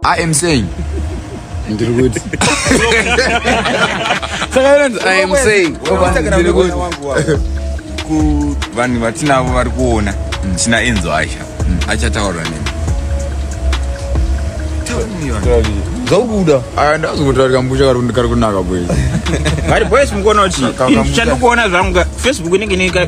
I am saying. Ndiri kuti. I am saying. Ndiri kuti. Vanhu vatinavo vari kuona ndina Enzo Aisha achataura nini? zvakuda aya ndazi kutaura kambucha kari kunaka boys kari boys mukuona kuti chandikuona zvangu ka facebook inenge inenge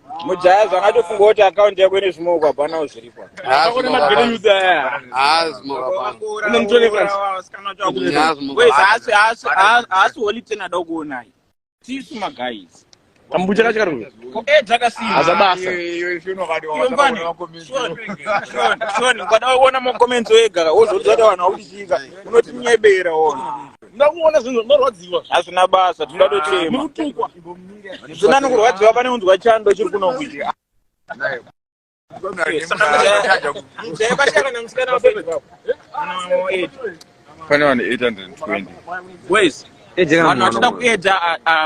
mujaya zvakatofunga kuti akaunti yako ine zvimoko hapanawo zviripo haasi holy ten ada kuonai tisu magaizi kambucha kacho kari hazabasashoni ukada kuona makomenti wega wozodzata vanhu vakuchiika unotinyebera wona ndakuona zvinhu zvinorwadziwa hazvina basa tinoda tochema nekutukwa zvina nokurwadziwa pane unzwa chando chiri kunokuiti pane vanhu 820 boys vanhu vachida kuedza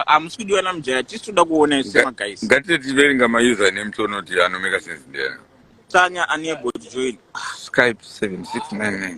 hamusi kudiwa namujaya tisi toda kuona ise magaisi ngatite tiverenga mausername tonoti anomeka sense ndeyana tsanya unable to join skype 7699